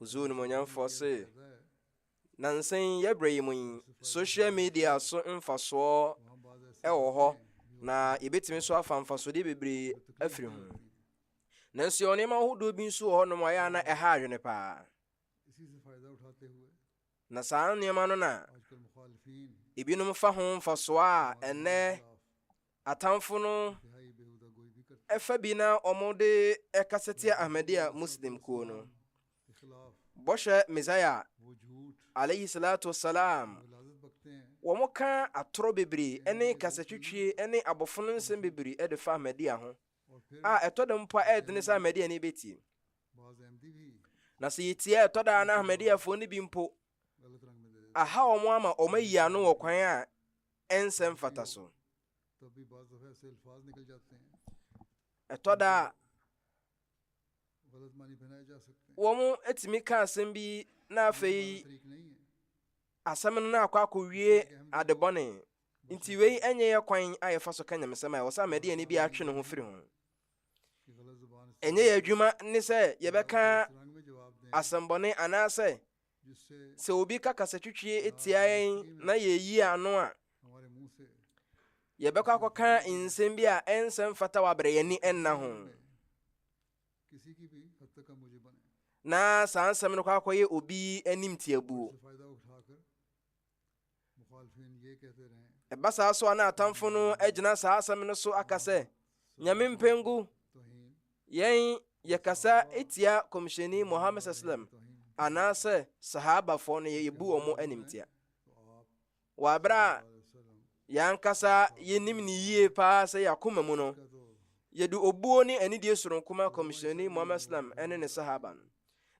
Ozoo Onimuonyamfoɔ se, Nnansa yi yɛ berɛ yi mu yi, social media so mfasoɔ wɔ hɔ na yɛbɛtumi nso afa mfasodeɛ bebree afiri ho. Nanso yɛwɔ nneɛma ahodoɔ bi nso wɔ hɔnom a ɛyɛ a na ɛha adwene paa. Na saa nneɛma no na ebinom fa ho mfasoɔ a ɛnnɛ Atamfo no fa bi na wɔde kasa tia Ahmadiyya Muslim kuo no. Bɔhyɛ Messiah alayhi salatu wassalam wɔka atorɔ bebree ne kasatwitwie ne abɔfono nsɛm bebree de fa Ahmadiyya ho a ɛtɔ da mpo a ɛyɛ dene sɛ Ahmadiyya ne bɛtie. Na sɛ yɛtie a ɛtɔ da na Ahmadiyyafoɔ no bi mpo aha wɔn ama wɔn ayi ano wɔ kwan a ɛnsɛ mfataso. Ɛtɔ da a, wɔtumi ka asɛm bi na afei asɛm no na akɔ akɔwie adebɔne nti wei ɛnyɛ yɛ kwan a yɛfa so ka nyamesɛm a ɛwɔ sɛ amadi ani bi atwe ne ho firi ho ɛnyɛ yɛ adwuma ne sɛ yɛbɛka asɛmbɔne anaasɛ Sɛ obi ka kasatwitwie tia yɛn na yeyi ano a, yɛbɛkɔ akɔka nsɛm bi a ɛnsɛ mfata wɔ abere yɛn ani nna ho. Na saa nsɛm no kɔ akɔyɛ obi anim tiabuo. Ɛba saa so a na atamfo no agyina saa asɛm no so aka sɛ, Nyame mpengu, yɛn yɛkasa tia kɔmhyɛni Muhammad sallam anaasɛ sahabafoɔ no yɛbu wɔn animtia. Wɔ aberɛ a yɛankasa yɛnim ne yie paa sɛ yɛakoma mu no, yɛde obuo ne anidie soronko ma kɔmhyɛni Muhammad sallam ne ne sahaba no.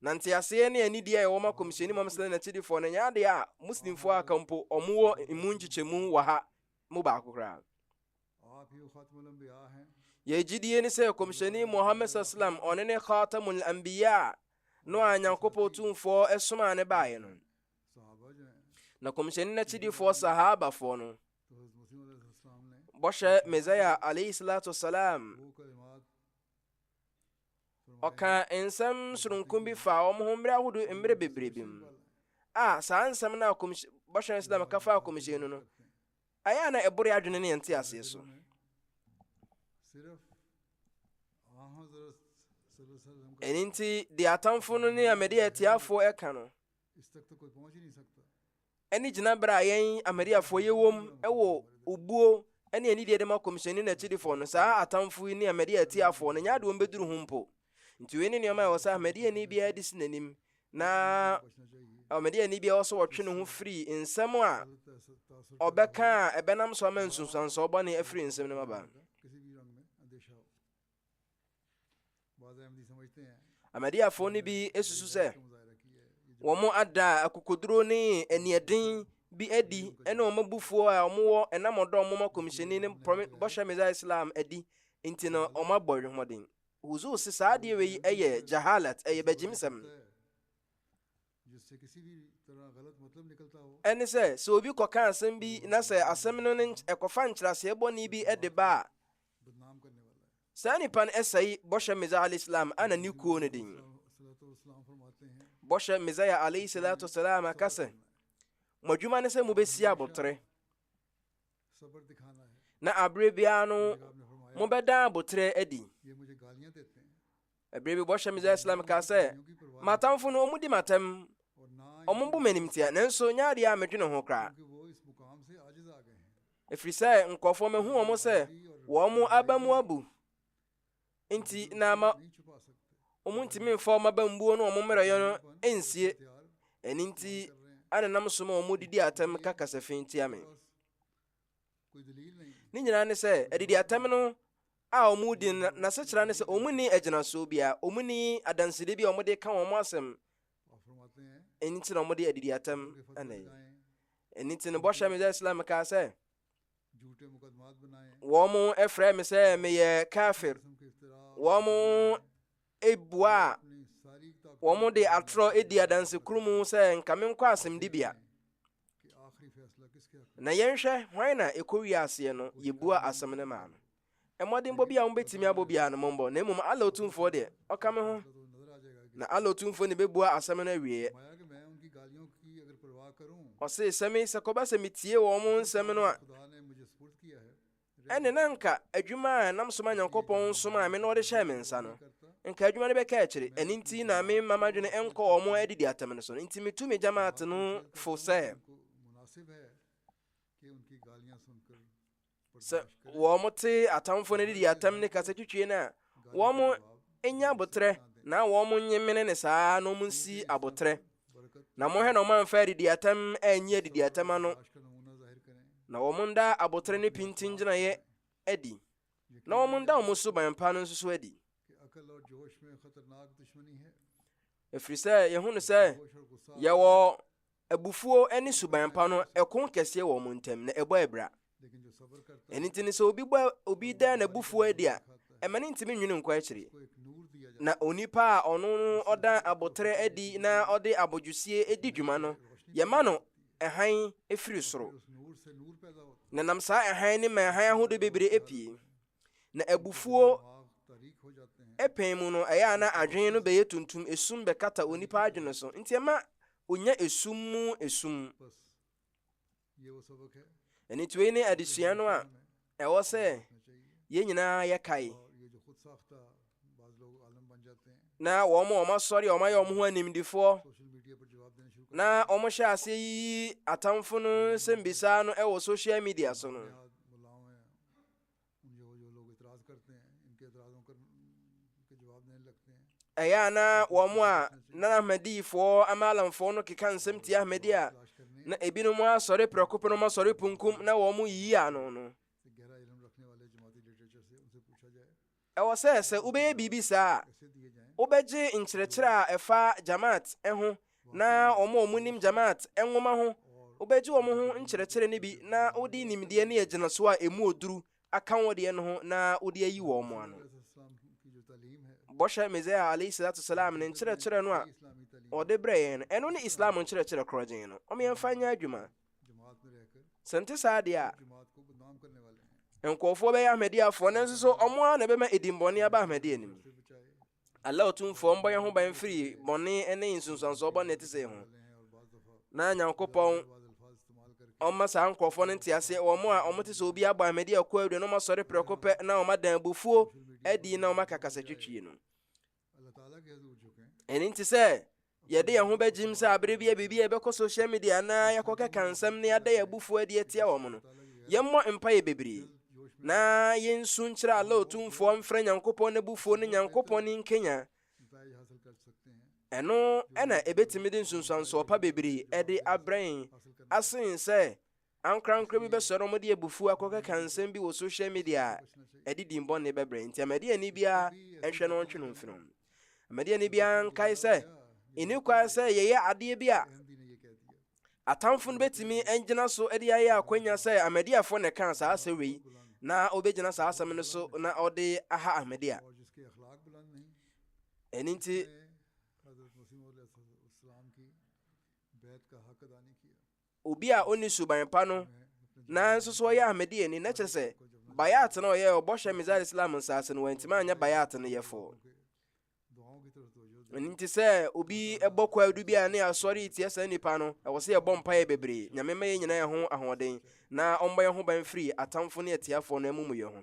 Na nteaseɛ ne anidie a ɛwɔ ma Kɔmhyɛni Muhammad sallallahu alaihi wasallam no ɛnyɛ adeɛ a Muslimfoɔ a aka mpo wɔn wɔ emu nkyekyɛmu wɔ ha mu baako koraa. Yɛn gyidie ne sɛ Kɔmhyɛni Muhammad sallallahu alaihi wasallam ɔne ne Khatamul Anbiya no a Nyankopɔn Tumfoɔ ɛsomaa ne baeɛ no. Na Kɔmhyɛni n'akyidifoɔ Sahabafoɔ no bɔhyɛ Messiah alaihi salatu wasalam Ɔkaa nsɛm soronko bi faa wɔn ho mmere ahodoɔ mmere bebree bi mu. A saa nsɛm no a bɔhyɛ no sɛ ka faa kɔmhyɛn no no, ɛyɛ a na ɛboro adwene ne yɛn te aseɛ so. Ɛno nti, deɛ atamfo no ne amede atiafoɔ ɛka no, ne gyinaberɛ a yɛn Ahmadiyyafoɔ yɛwom wɔ obuo ne anidie de ma Kɔmhyɛni ne n'akyidifoɔ no, saa atamfo yi ne Ahmadiyya atiafoɔ no nyɛ ade wɔn bɛduru ho mpo. Nti wei ne nneɛma a ɛwɔ sɛ Ahmadiyyani biara de si n'anim na Ahmadiyyani biara ɔsɛ ɔtwe ne ho firi nsɛm a ɔbɛka a ɛbɛnam so ama nsunsuansoɔ bɔne afiri nsɛm no mu aba. Ahmadiyyafoɔ no bi susu sɛ wɔn ada akokoduro ne aniɛden bi adi ɛne wɔn abufuo a wɔn wɔ ɛnam ɔdɔ wɔn ma kɔmhyɛni ne bɔhyɛ meza islam adi nti no wɔn abɔ adwomɔden huzu se saa adeɛ wei ɛyɛ jahalat ɛyɛ bɛgyimsɛm Ɛne sɛ, sɛ obi kɔka asɛm bi na sɛ asɛm no ne ɛkɔfa nkyerɛaseɛ bɔne bi de ba a, saa nipa no ɛsɛe bɔhyɛ Mizaya al-Islam ana ne kuo no din. Bɔhyɛ Mizaya alayhi salatu salam aka sɛ, mo adwuma ne sɛ mobɛsi abotere na aberɛ biara no mobɛdan abotere adi. Ɛberɛ bi bɔhyɛ Mizar Islam kaa sɛ, M'atamfo no, wɔdi m'atɛm, wɔbu m'animteɛ, nanso nyɛ adeɛ a medwene ho koraa. Ɛfiri sɛ nkurɔfoɔ mahu wɔn sɛ wɔn aba mu abu, nti na ama wɔn ntumi mfa wɔn aba mbuo ne wɔn mmerɛyɛ no nsie. Ɛno nti anenam so ma wɔn didi atɛm ka kasafi tia me. ne nyinaa ne sɛ adidi atɛm no a wɔn di no n'asekyerɛ ne sɛ wɔn ni agyinasoɔ bi a wɔn ni adansede bi a wɔde ka wɔn asɛm ɛni ti na wɔde adidi atɛm ɛna yi ɛni ti no bɔhyɛ mi sɛ islam kaa sɛ wɔn ɛfrɛ mi sɛ meyɛ kafir wɔn bua a wɔde atorɔ di adanse koro mu sɛ nka menkɔ asɛmdibea. Na yɛnhwɛ hwan na ɛkɔwie aseɛ no yɛbua asɛm no maa no. Mmɔdenbɔ bi a wɔbɛtumi abɔ biara no mombɔ, na mmom Allah Otumfoɔ deɛ, ɔka me ho. Na Allah Otumfoɔ ne bɛbua asɛm no awieɛ. Ɔse, sɛ me sɛ kɔba sɛ metie wɔn nsɛm no a, ɛnde na anka adwuma a ɛnam so ma Nyankopɔn somaa me na ɔde hyɛɛ me nsa no, nka adwuma no bɛka akyiri. Ɛno nti na memma m'adwene nkɔ wɔn a adidi atɛm no so no. Nti mitu me Jamaat no fo sɛ, sɛ wɔte atamfo no adidi atɛm ne kasa twitwie no a, wɔn nya abotrɛ na wɔn nye mene ne saa na wɔn nsi abotrɛ. na monhwɛ na ɔmamfa adidiatam anyi adidiatam ano na wɔnda abotere ne pintin gyinaeɛ adi na wɔnda wɔn suban pa no nso so adi ɛfiri sɛ yɛhu no sɛ yɛwɔ abufuo ne suban pa no ɛko kɛseɛ wɔ wɔn ntam na ɛbɔ abira ɛno nti no sɛ obi bɔ obi da n'abufuo adi a ɛma no ntumi nwene nkɔ akyiri na onipa a ɔno no ɔda aboterɛ adi na ɔde abodwosie di dwuma no yɛma no ɛhan firi soro na nam saa ɛhan ne ma ɛhan ahodoɔ bebree apue na abufuo ɛpɛn mu no ɛyɛ a na adwene no bɛyɛ tuntum esum bɛkata onipa adwene so nti ɛma onya esum mu esum Anituei ne adesua no a ɛwɔ sɛ yɛn nyinaa yɛkae. Na wɔn a wɔasɔre a wɔayɛ wɔn ho animdefoɔ na wɔhyɛ aseɛ yiyi atamfo no nsɛmmisa no wɔ social media so no, Ɛyɛ a na wɔn a na Ahmadifoɔ ama alamfoɔ no keka nsɛm tia Ahmadi a na ebinom asɔre prɛko pɛ na wɔn asɔre punkum na wɔn yiyi ano no. Ɛwɔ sɛ sɛ wobɛyɛ biribi saa a, wobɛgye nkyerɛkyerɛ a ɛfa Jamaat ho na wɔn a wɔnim Jamaat nwoma ho wobegye wɔn ho nkyerɛkyerɛ no bi na wode nimdeɛ ne agyinaso a emu oduru aka wɔn deɛ no ho na wode ayi wɔn mo ano. Bɔhyɛ Mesia alayhi salatu salam ne nkyerɛkyerɛ no a ɔde brɛ yɛn no, ɛno ne Islam nkyerɛkyerɛ korɔgyen no. Wɔn yɛmfa nyɛ adwuma. Sɛ nte saa deɛ a, nkurɔfoɔ bɛyɛ Ahmadiyyafoɔ nanso so wɔn ara na ɛbɛma edimbɔne aba Ahmadiyya no mu. Allah Otumfoɔ mbɔ yɛn ho ban firi bɔne ne nsunsuansoɔ bɔne te sɛ ho na Nyankopɔn ɔma saa nkurɔfoɔ no nteaseɛ wɔn a wɔn te sɛ obi abɔ ahmadi ɛkɔ adwa na wɔn asɔre prɛko pɛ na wɔn adan abufuo adi na wɔn akakasa twitwie no ɛne nti sɛ Yɛde yɛn ho begyim sɛ bere bi a biribi a yɛbɛkɔ social media anaa yɛakɔkeka nsɛm na yɛada yɛn abufuw adi atia wɔn no, yɛmmɔ mpae bebree, na yensu nkyerɛ Allah Otumfoɔ mfrɛ Nyankopɔn n'abufuw ne Nyankopɔn nkanyan. Ɛno na ebetumi de nsunsuansoɔ pa bebree de abrɛ yɛn asen sɛ Ankorankoro bi bɛsɔre na wɔde abufuo akɔkeka nsɛm bi wɔ social media a ɛde din bɔne bɛbrɛ. Nti Ahmadiyani biara nhwɛ na ɔntwe no mfiri ho. Ahmadiyani biara nkae sɛ ɛni kwan sɛ yɛyɛ adeɛ bi a atamfo no bɛtumi agyina so de ayɛ akwanya sɛ Ahmadiyafoɔ na ɛkaa saa asɛm wei na ɔbɛgyina saa asɛm no so na ɔde aha Ahmadiya. Ɛno nti Obi a onni suban pa no nanso so ɔyɛ Ahmadiyyani, na kyerɛ sɛ Bayat na ɔyɛɛ ɔbɔhyɛ Mizar Islam nsaase no wantumi anyɛ Bayat no yɛfo. Ɛno nti sɛ obi bɔ kwaadu bi a ne asɔre retia saa nipa no, ɛwɔ sɛ yɛbɔ mpaeɛ bebree. Nyame ma yɛn nyinaa yɛn ho ahoɔden na ɔmmɔ yɛn ho ban firi atamfo ne atiafoɔ no amumuyɛ ho.